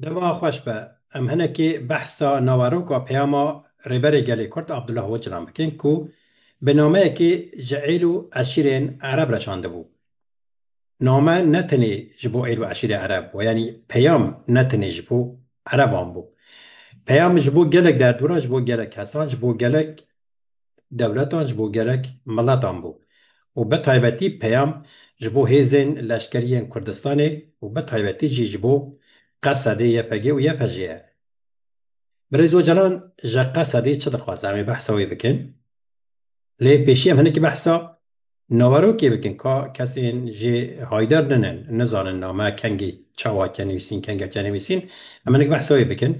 Dema xweş be, em hinekî behsa naveroka peyama Rêberê Gelê Kurd Abdullah Ocalan bikin ku bi nameyekî ji êl û eşîrên Ereb re şandibû. Name ne tenê ji bo êl û eşîrê Ereb bû, yanî peyam ne tenê ji bo Ereban bû. Peyam ji bo gelek derdora, ji bo gelek kesan, ji bo gelek dewletan ji bo gerek miletan bû û bi taybetî peyam ji bo hêzên leşkeriyên Kurdistanê û bi taybetî jî ji bo Qesedê, YPG û YPJ ye. Birêz Ocalan ji Qesedê çi dixwaze? Em ê behsa wê bikin. Lê pêşî em hinekî behsa naverokê bikin ka kesên jê haydar ninin, nizanin name kengê çawa çenivîsîn, kenge çenivîsîn. Em hinek behsa wê bikin.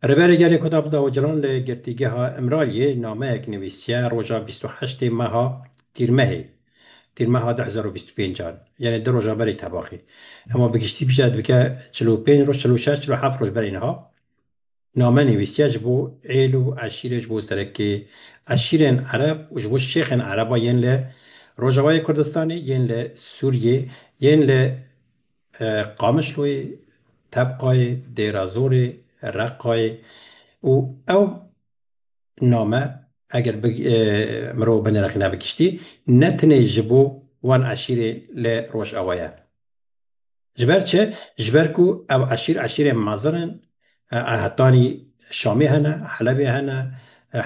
Rêberê Gelê Kudabda Ocalan li Girtîgeha Îmraliyê nameyek nivîsiye roja bîst û heştê meha Tîrmehê, Tîrmeha du hezar û bîst û pênc an, yanê du roja berî tebaxî. Hema bi giştî bije dibike çil û pênc roj, çil û şeş, çil û heft roj berî niha name nivîsiye ji bo êl û eşîrê, ji bo serekê eşîrên ereb û ji bo şêxên ereba yên li Rojavayê Kurdistanê, yên li Sûriyê, yên li Qamişloyê, Tebqayê, Dêrazorê, Reqqayê û ew name eger bi mirov binirxîne bi giştî ne tenê ji bo wan eşîrê li Rojava ye. Ji ber çi? Ji ber ku ew eşîr eşîrên mezin in Hetanî Şamê hene, Helebê hene,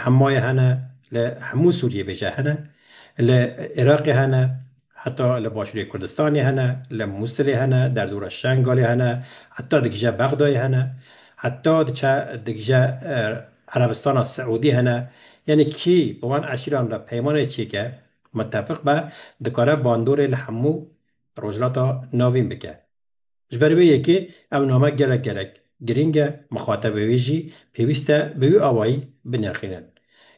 Hemayê hene, li hemû Sûriyê bêje hene, li Iraqê hene, heta li Başûrê Kurdistanê hene, li Mûsilê hene, derdora Şengalê hene, heta digije Bexdayê hene, heta diçe digije Erebistana Siûdî hene. Yanî kî bi wan eşîran re peymanê çêke, mitefiq be, dikare bandorê li hemû Rojhilata Navîn bike. Ji ber vê yekê ev name gelek gelek girîng e, mixatebê wê jî pêwîst e bi wî awayî binirxînin.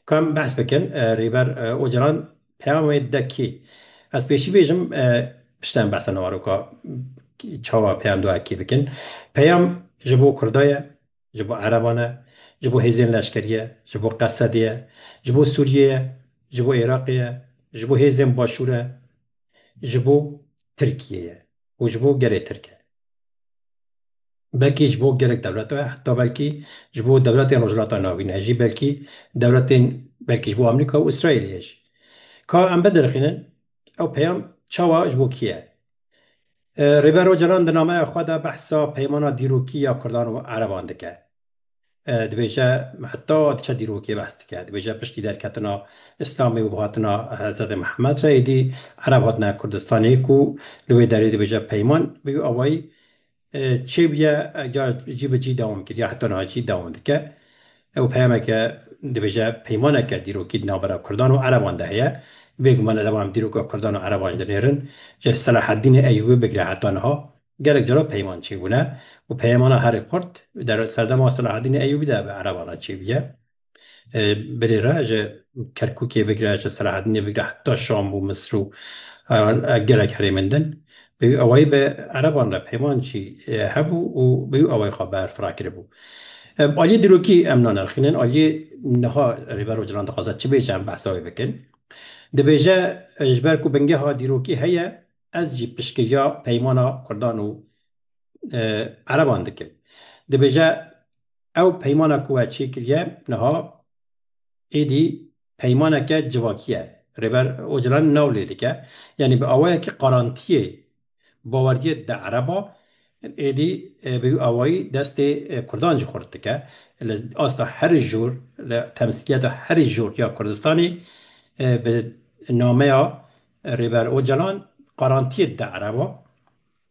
Ku em behs bikin Rêber Ocalan peyamê de kê? Ez pêşî bêjim piştre em behsa naroka çawa peyam dua kê bikin. Peyam ji bo Kurda ye, ji bo Ereban e, ji bo hêzên leşkerî ye, ji bo Qesedê ye, ji bo Sûriyê ye, ji bo Iraqê ye, ji bo hêzên Başûr e, ji bo Tirkiyê ye. û ji bo gelê Tirk e. Belkî ji bo gelek dewlet e, heta belkî ji bo dewletên Rojhilata Navîn e jî, belkî dewletên belkî ji bo Amerîka û Îsraîlê ye jî. Ka em bidirixînin ew peyam çawa ji bo kî ye? Rêber Ocalan di nameya xwe de behsa peymana dîrokî ya Kurdan û Ereban dike. Dibêje heta diçe dîrokê behs dike. Dibêje piştî derketina Îslamê û hatina Hezretê Mihemed re êdî Ereb hatine Kurdistanê ku li wê derê dibêje peyman bi wî awayî çêbûye car cî bi cî dewam kiriye heta niha jî dewam dike. Ew peyameke dibêje peymaneke dîrokî di navbera Kurdan û Ereban de heye. Bêguman ereba em dîroka Kurdan û Ereban ji dinêrin ji Selahedînê Eyûbî bigire heta niha. Gelek cara peyman çêbûne û peyemana herî xurt der serdema Selahedînê Eyûbî de bi ereban re çêbûye. Birê re ji Kerkûkê bigire ji Selahedînê bigire heta Şam û Misir û gelek herêmên din bi wî awayî bi ereban re peyman çî hebû û bi wî awayî xwe berf rakiribû. Aliyê dîrokî em nanerxînin, aliyê niha Rêber Ocalan dixwaze çi bêje em behsa wê bikin. Dibêje ji ber ku bingeha dîrokî heye, Ez jî piştgiriya peymana Kurdan û Ereban dikim. Dibêje ew peymana ku we çêkiriye niha êdî peymaneke civakî ye. Rêber Ocalan nav lê dike. Yanî bi awayekî qarantiyê bawergiyê di ereba êdî bi wî awayî destê Kurdan jî xurt dike. Li asta herî jor, li temsîliyeta herî jor ya Kurdistanê bi nameya Rêber Ocalan qarantiyê da ereba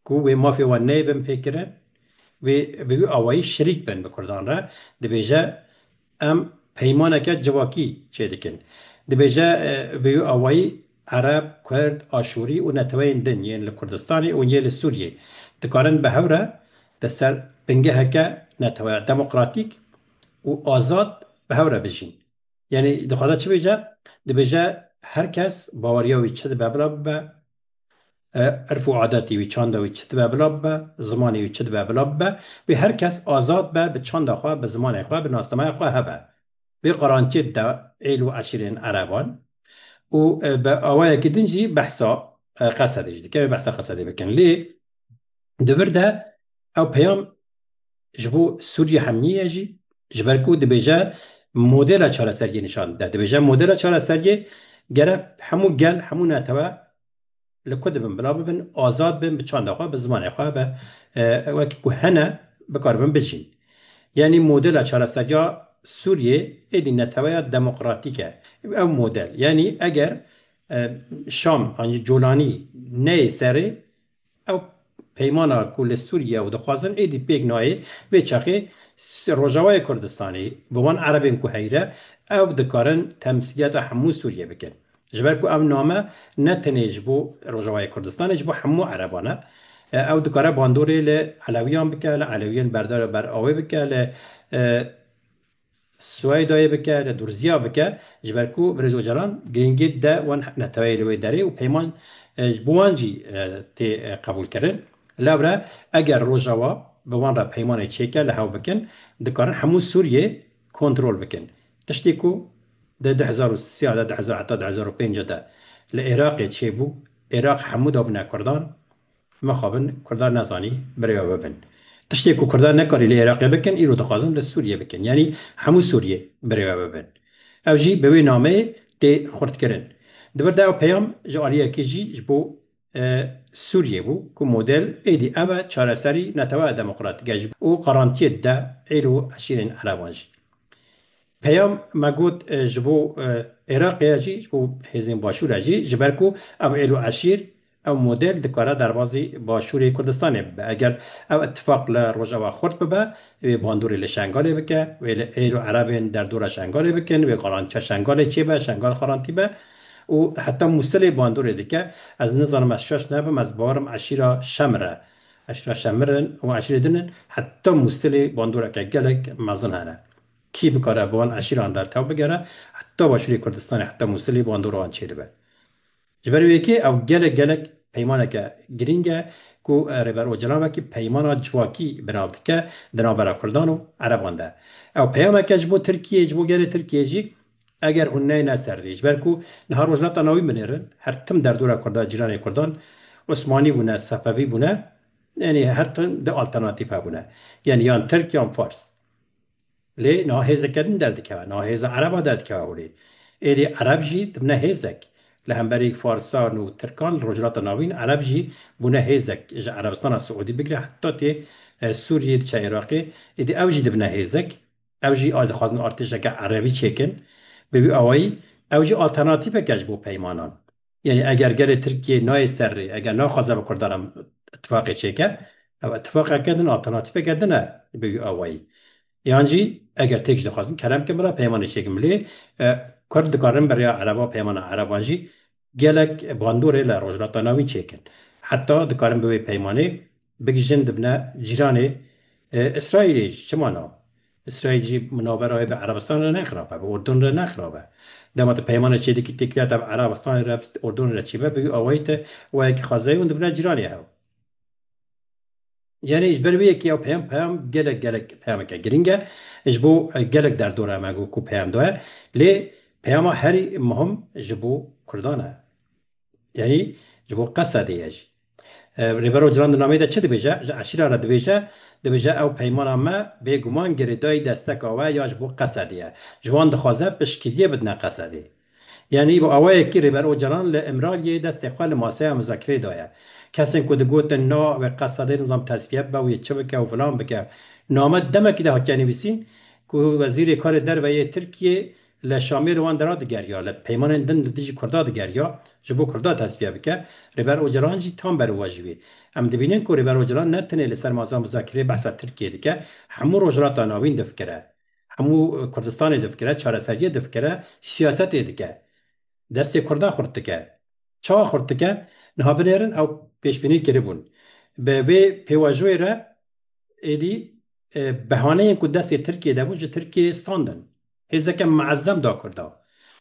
ku wê mafê wan neyê bin pêkirin, wê bi wî awayî şerîk bin bi Kurdan re. Dibêje em peymaneke civakî çêdikin. Dibêje bi wî awayî Ereb, Kurd, Aşûrî û neteweyên din yên li Kurdistanê û yê li Sûriyê dikarin bi hev re di ser bingeheke neteweya demokratîk û azad bi hev re bijîn. Yanî dixwaze çi bêje? Dibêje her kes baweriya wî çi dibe bila bibe, irf û adetê wî, çanda wî çi dibe bila bibe, zimanê wî çi dibe bila bibe. Wê her kes azad be bi çanda xwe, bi zimanê xwe, bi nasnameya xwe hebe. Wê qaranciyê dide êl û eşîrên ereban û bi awayekî din jî behsa Qesedê jî dike. Wê behsa Qesedê bikin. Lê di vir de ew peyam Ji bo Sûriye hemnîye jî ji ber ku dibêje modela çareseriyê nîşan dide. Dibêje modela çareseriyê gerek hemû gel, hemû netewe li ku dibin bila bibin, azad bin bi çanda xwe, bi zimanê xwe, bi wekî ku hene bikaribin bijîn. Yanî modela çareseriya Sûriyê êdî neteweya demokratîk e. Ew model yanî eger Şam an jî Colanî neyê serê Ew peymana ku li Sûriye ew dixwazin êdî pêk nayê, vê çaxê Rojavayê Kurdistanê bi wan erebên ku heyre ew dikarin temsîliyata hemû Sûriyê bikin. Ji ber ku ev name ne tenê ji bo Rojavayê Kurdistanê ji bo hemû ereban e. Ew dikare bandorê li elewiyan bike, li elewiyên berdar û ber awê bike, li. Sueydayê bike, li Durziya bike ji ber ku Birêz Ocalan girîngî dide wan neteweyê li wê derê û peyman ji bo wan jî tê qebûlkirin. Lewre eger Rojava bi wan re peymanê çêke li hev bikin, dikarin hemû Sûriyê kontrol bikin. Tiştê ku di du hezar û sî de, du hezar heta du hezar û pênc de li Iraqê çêbû, Iraq hemû dabûne Kurdan, Mixabin Kurdan nezanî birêve bibin. Tiştê ku Kurdan nekarî li Iraqê bikin îro dixwazin li Sûriyê bikin. Yanî hemû Sûriyê birêve bibin. Ew jî bi wê nameyê tê xurtkirin. Di vir de ew peyam ji aliyekê jî ji bo Sûriyê bû ku model êdî ev e çareserî neteweya demokratîke ji û qarantiyê dide êl û eşîrên ereban jî. Peyam me got ji bo Iraqê ye jî ji bo hêzên Başûr e jî ji ber ku ev êl û eşîr Ew model dikare derbazî Başûrê Kurdistanê bibe. Eger ew îtîfaq li Rojava xurt bibe, wê bandorê li Şengalê bike, wê li êr û erebên derdora Şengalê bikin, wê garantiya Şengalê çêbe, Şengal xarantî be û heta Mûsilê bandorê dike. Ez nizanim ez şaş nebim, ez bawer im eşîra Şemir e, eşîra Şemir in û eşîrê din in. Heta Mûsilê bandoreke gelek mezin hene. Kî bikare bi wan eşîran bertew bigere, heta Başûrê Kurdistanê, heta Mûsilê bandora wan çêdibe. Ji ber wê yekê ew gelek gelek peymaneke girîng e ku Rêber Ocalan wekî peymana civakî bi nav dike di navbera Kurdan û Ereban de. Ew peyamek e ji bo Tirkiyê, ji bo gelê Tirkiyê jî eger hûn neyne ser rê. Ji ber ku niha Rojhilata Navîn binêrin, her tim derdora Kurda cîranê Kurdan Osmanî bûne, Sefevî bûne, yanî her tim du alternatîf hebûne. Yanî yan Tirk yan Fars. Lê niha hêzeke din derdikeve, niha hêza Ereba derdikeve holê. Êdî Ereb jî dibne hêzek. Li hemberî Farisan û Tirkan li Rojhilata Navîn Ereb jî bûne hêzek. Ji Erebistana Siûdî bigre heta tê Sûriyê diçe Iraqê, êdî ew jî dibine hêzek. Ew jî a dixwazin artêşeke Erebî çêkin. Bi vî awayî ew jî alternatîfek e ji bo peymanan. Yanî eger gelê Tirkiyê nayê ser rê, eger naxwaze bi Kurdan re îtîfaqê çêke, ew îtîfaqeke din e, alternatîfeke din e bi wî awayî. Yan jî eger têk jî dixwazin kerem bikin bila peymanê çêkin. Lê Kurd dikarin bi rêya Ereba peymana Ereban jî gelek bandorê li Rojhilata Navîn çêkin. Heta dikarin bi wê peymanê Bigihîjin dibine cîranê Îsraîlê jî. Çima na? Îsraîl jî navbera wê bi Erebistan re ne xirab e, bi Urdun re ne xirab e. Dema tu peymanê çê dikî tê kiriya te bi Erebistanê re, bi Urdunê re çî be, bi wî awayî te wayekî xwezayî hûn dibine cîranê hev. Yanî ji ber vê yekê ew peyam peyam gelek gelek peyameke girîng e. Ji bo gelek derdora em e ku peyam daye. Lê peyama herî muhim ji bo Kurdan e. Yanî ji bo Qesedê ye jî. Rêber Ocalan di nameyê de çi dibêje? Ji eşîra re dibêje, dibêje ew peymana me bê guman girêdayî desteka we ya ji bo Qesedê ye. Ji wan dixwaze piştgiriyê bidine Qesedê. Yanî bi awayekî Rêber Ocalan li Îmraliyê destê xwe li maseya muzakireyê daye. Kesên ku digotin na wê Qesedê nizam tersbîye bibe û yê çi bike û filan bike. Name demekî de hatiye nivîsîn ku Wezîrê Karê Derve yê Tirkiyê Li Şamê li wan deran digeriya, li peymanên din li dijî Kurdan digeriya, ji bo Kurdan tesfiye bike, Rêber Ocalan jî tam ber û we ji wî. Em dibînin ku Rêber Ocalan ne tenê li ser Mazam Zakirê behsa Tirkiyeyê dike, hemû Rojhilata Navîn difikire, hemû Kurdistanê difikire, çareseriyê difikire, siyasetê dike. Destê Kurdan xurt dike. Çawa xurt dike? Niha binêrin ew pêşbînî kiribûn. Bi vê pêvajoyê re êdî behaneyên ku destê Tirkiyeyê de bûn ji Tirkiyeyê standin. Hêzeke meezem da Kurdan.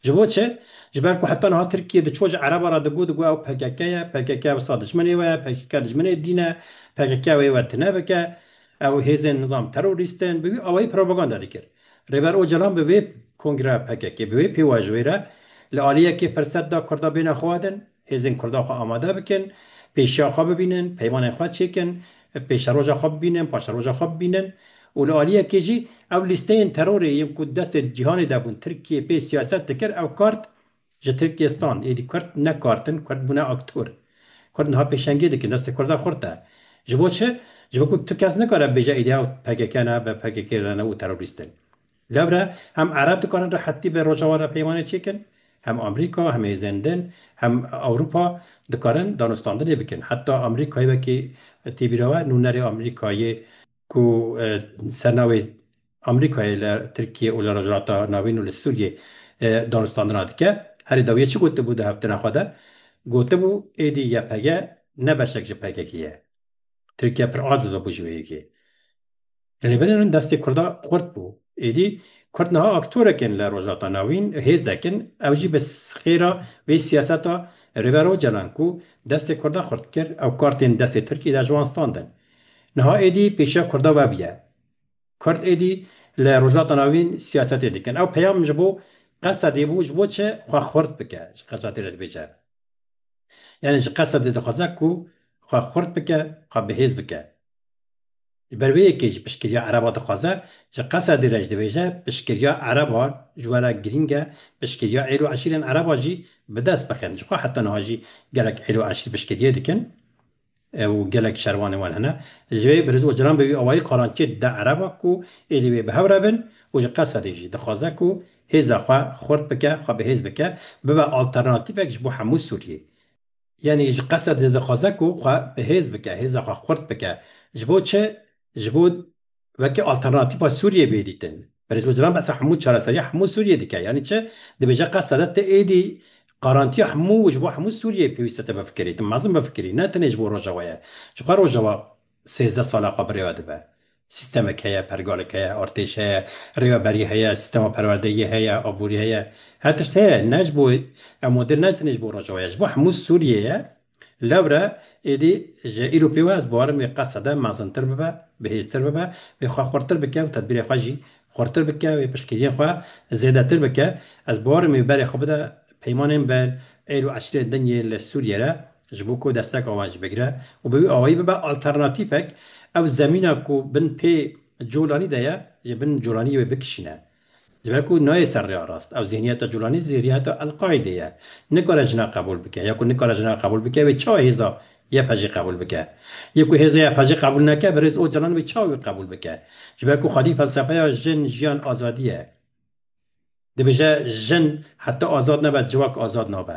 Ji bo çi? Ji ber ku heta niha Tirkiye diçû ji Ereban re digot, digot ew pkk ye, pkk wisa dijminê we ye, pkk dijminê dîn e, pkk ew ê we tune bike, ew hêzên nizam terorîst in, bi wî awayî propaganda dikir. Rêber Ocalan bi vê kongreya pkk, bi wê pêwajoyî re li aliyekê firsed da Kurda bêne xwe din, Hêzên Kurdan xwe amade bikin, pêşiya xwe bibînin, peymanên xwe çêkin, pêşeroja xwe bibînin, paşeroja xwe bibînin û li aliyekê jî ew lîsteyên terorê yên ku destê di cîhanê de bûn, Tirkiyê pê siyaset dikir, ew kart ji Tirkiyê stand. Êdî Kurd ne kart in, Kurd bûne aktor. Kurd niha pêşengiyê dikin, destê Kurda xurt e. Ji bo çi? Ji bo ku tu kes nikare bêje êdî ew PKK ne, bpkk re ne û terorîst in. Lewre hem Ereb dikarin rehetî bi Rojava re peymanê çêkin, hem Amerîka, hem hêzên din, hem Ewropa dikarin danûstandinê bikin. Heta Amerîkayê wekî tê bîra we nûnerê Amerîkayê ku ser navê Amerîkayê li Tirkiyê û li Rojhilata Navîn û li Sûriyê danûstandina dike, herî dawiyê çi gotibû di heftina xwe de? Gotibû êdî YPG ne beşek ji PKK'ê ye. Tirkiye pir aciz bû ji wê yekê. Rêberên min destê Kurda xurt bû. Êdî Kurd niha aktorek in li Rojhilata Navîn, hêzek in, ew jî bi xêra vê siyaseta Rêber Ocalan ku destê Kurda xurt kir, ew kartên destê Tirkî de ji wan standin. Niha êdî pêşiya Kurda wev ye. Kurd êdî li Rojhilata Navîn siyasetê dikin. Ew peyam ji bo Qesedê bû, ji bo çi xwe xurt bike, ji Qesedê re dibêje. Yanî ji Qesedê dixwaze ku xwe xurt bike, xwe bihêz bike. Li ber vê yekê ji piştgiriya ereba dixwaze, ji Qesedê re jî dibêje piştgiriya ereba ji we re girîng e, piştgiriya êl û eşîrên ereba jî bi dest bixin. Ji xwe heta niha jî gelek êl û eşîr piştgiriyê dikin û gelek şervanên wan hene. Ji vê Biriz Ocalan bi wî awayî qarançiyê dide ereba ku êlî wê bi hev re bin û ji Qesedê jî dixwaze ku hêza xwe xurt bike, xwe bihêz bike, bibe alternatîfek ji bo hemû Sûriyeyê. Yanî ji qesed li dixwaze ku xwe bi hêz bike, hêza xwe xurt bike. Ji bo çi? Ji bo wekî alternatîfa Sûriyê bê dîtin. Berî Ocalan behsa hemû çareseriya hemû Sûriyê dike. Yanî çi? Dibêje qeseda te ti êdî qarantiya hemû û ji bo hemû Sûriyeyê pêwîste te bifikirî. Tu mezin bifikirî ne tenê ji bo Rojavayê. Ji xwe Rojava Sêzdeh sal a xwe bi rêve dibe. Sîstemek heye, pergalek heye, artêş heye, rêveberî heye, sîstema perwerdeyî heye, aborî heye. Her tişt heye. Ne ji bo ev model ne tenê ji bo Rojava ye. Ji bo hemû Sûriyê ye. Lewre êdî ji îro pê wê ez bawerim wê qesede mezintir bibe, bihêztir bibe, wê xwe xurtir bike û tedbîrê xwe jî xurtir bike, wê piştgiriyên xwe zêdetir bike. Ez bawerim wê berê xwe bide peymanên ber êl û eşîrên din yên li Sûriyê re Ji bo ku desteka wan jî bigire û bi wî awayî bibe alternatîfek, ew zemîna ku bin pê Colanî de ye, ji bin Colanîyê wê bikişîne. Ji ber ku nayê ser rêya rast. Ew zîhniyeta Colanî zîhriyeta El-Qaîdê ye. Nikare jina qebûl bike. Ya ku nikare jina qebûl bike wê çawa hêza YPJ'ê qebûl bike? Ya ku hêza YPJ'ê qebûl neke, Birêz Ocalan wê çawa wî qebûl bike? Ji ber ku xwedî felsefeya jin, jiyan, azadî ye. Dibêje jin heta azad nebe civak azad nabe.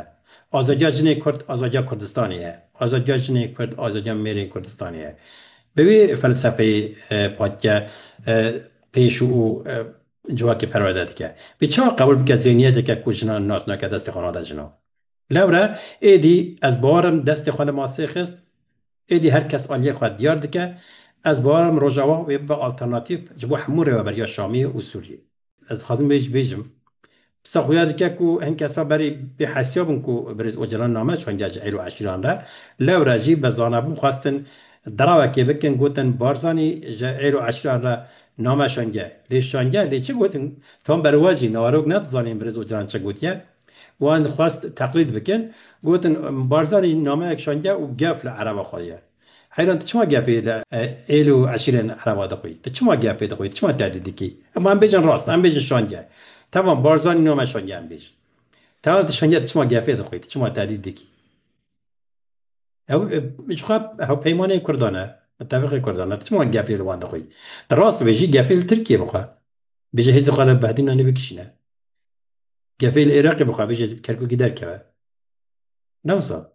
Azadiya jinê kurd azadiya Kurdistanê ye. Azadiya jinê kurd azadiya mêrên Kurdistanê ye. Bi vî felsefeyê Patike pêş û civakê perwerde dike. Vî çawa qebûl bike zêniyeteke ku jinan nas nake destê xwe nade jina. Lewre êdî ez bawer im destê xwe li masê xist, êdî her kes aliyê xwe diyar dike. Ez bawer im Rojava wê bibe alternatîf ji bo hemû rêweberiya Şamiyê û Sûriyê. Ez dixwazim vê jî bêjim. Pisa xuya dike ku hin kesa berî bê hesiya bûn ku Birêz Ocalan name çandiya ji êro eşîran re. Lewre jî bi zanebûn xwestin derawekê bikin gotin Barzanî ji êro eşîran re name şandiye. Lê şandiye lê çi gotin? Tom beriwa jî nawerok nedizanîn Birêz Ocalan çi gotiye. Wan xwest teqlîd bikin. Gotin Barzanî nameyek şandiye û gef li ereba xwe ye. Heyran tu çima gepê li êl û eşîrên ereba dixwî? Tu çima gepê dixwî? Tu çima tehdît dikî? Em em bêjin rast, em bêjin şange. Temam, Barzanî nîyo me şange em bêjin. Temam tu şange tu çima gepê dixwî? Tu çima tehdît dikî? Ew jixwe hewpeymanên Kurdan e, mitefiqê Kurdan e. Tu çima gepê li wan dixwî? Tu rast bêjî gepê li Tirkiyê bixwe. Bêje hêzên xwe li behdî nanê bikişîne. Gepê li Iraqê bixwe bêje Kerkûkî derkeve. Ne wisa.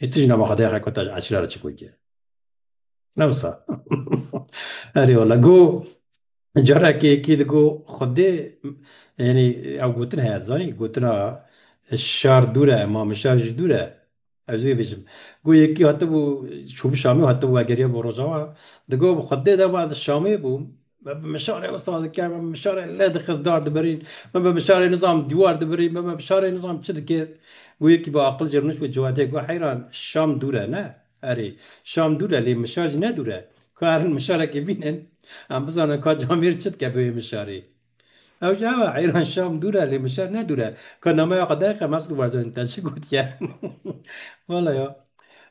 Hê tu jî nava qedexek ku te ji eçile re çikur kir. Ne wisa. Erê wala go carekê kî digo xwedê yanî ew gotin heye zanî gotina şar dûr e ma min şar jî dûr e. Ez wê bijim. Go yekî hatibû çûbû Şamê û hatibû vegeriya bo Rojava digo bi xwedê de ma ez li Şamê bûm. Me bi mişarê wisa dikir, me bi mişarê lê dixist dar dibirîn, me bi mişarê nizam dîwar dibirîn, me bi mişarê nizam çi dikir. Got yekî bi aqil jê rûnişt bi Ciwadê got heyran Şam dûr e ne? Erê, Şam dûr e lê mişar jî ne dûr e. Karin mişarekî bînin em bizanin ka camêr çi dike bi wê mişarê. Ew jî ew e heyran Şam dûr e lê mişar ne dûr e. Ka nameya xwe daye qe Mesûd Barzanî te çi gotiye. Wala ya.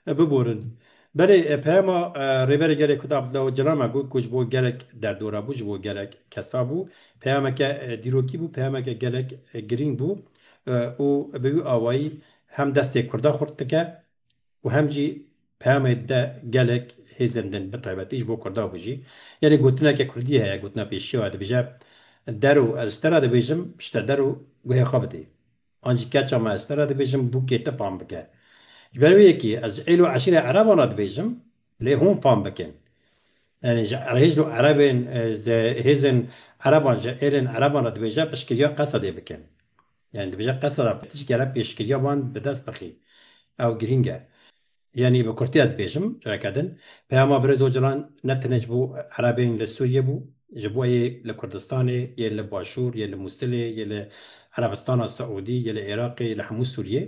Biborin. Belê peyama Rêberê Gelê Kurd Abdullah Ocalan a got ku ji bo gelek derdora bû, ji bo gelek kesa bû. Peyameke dîrokî bû, peyameke gelek girîng bû û bi wî awayî hem destê Kurda xurt dike û hem jî peyamê dide gelek hêzên din bi taybetî ji bo Kurda bû jî. Yanî gotineke Kurdî heye, gotina pêşiya dibêje, Der û ez ji te re dibêjim, piştre der û guhê xwe bidê. An jî keça me ez te re dibêjim bûkê te fam bike. Ji ber wê yekê ez êl û eşîrê ereban re dibêjim lê hûn fam bikin. Yanî ji hêz û erebên ze hêzên ereban ji êlên ereban re dibêje piştgiriya qesedê bikin. Yanî dibêje qeseda piştgere pêşgiriya wan bi dest bixî. Ew girîng e. Yanî bi kurtî ez dibêjim careke din peyama Birêz Ocalan ne tenê ji bo Erebên li Sûriyê bû, ji bo yê li Kurdistanê, yê li Başûr, yê li Mûsilê, yê li Erebistana Siûdî, yê li Iraqê, yê li hemû Sûriyê.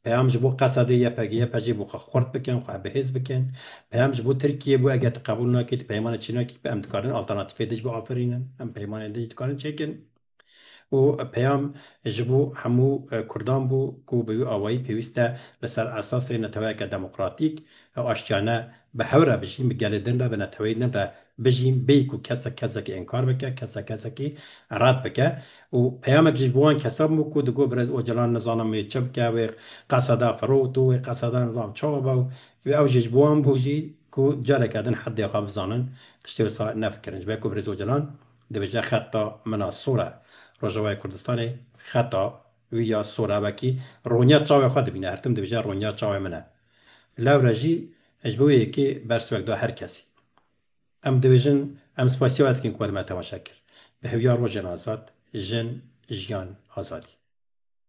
Peyam ji bo Qesedê, YPG, YPJ'ê bû xwe xurt bikin, xwe bihêz bikin. Peyam ji bo Tirkiyê bû eger tu qebûl nakî, tu peymanê çênakî, em dikarin alternatîfê din jî biaferînin, em peymanên din jî dikarin çêkin. Û peyam ji bo hemû Kurdan bû ku bi wî awayî pêwîst e li ser esasê neteweyeke demokratîk û aştiyane bi hev re bijîn, bi gelê din re, bi neteweyê din re bijîn bêyî ku kesek kesekî inkar bike, kesek kesekî red bike. Û peyamek jî ji bo wan kesan bû ku digot Birêz Ocalan nizanim wê çi bike, wê qeseda firot û wê qeseda nizanim çawa be û ew jî ji bo wan bû jî ku careke din heddê xwe bizanin, tiştê wisa nefikirin. Ji ber ku Birêz Ocalan Dibêje xeta min a sor e. Rojavayê Kurdistanê xeta wî ya sor e wekî roniya çavê xwe dibîne. Her tim dibêje roniya çavê min e. Lewre jî ji bo wê yekê bersivek da her kesî. Em dibêjin em spasiya we dikin ku we li me temaşe kir. Bi hewiya rojên azad, jin, jiyan, azadî.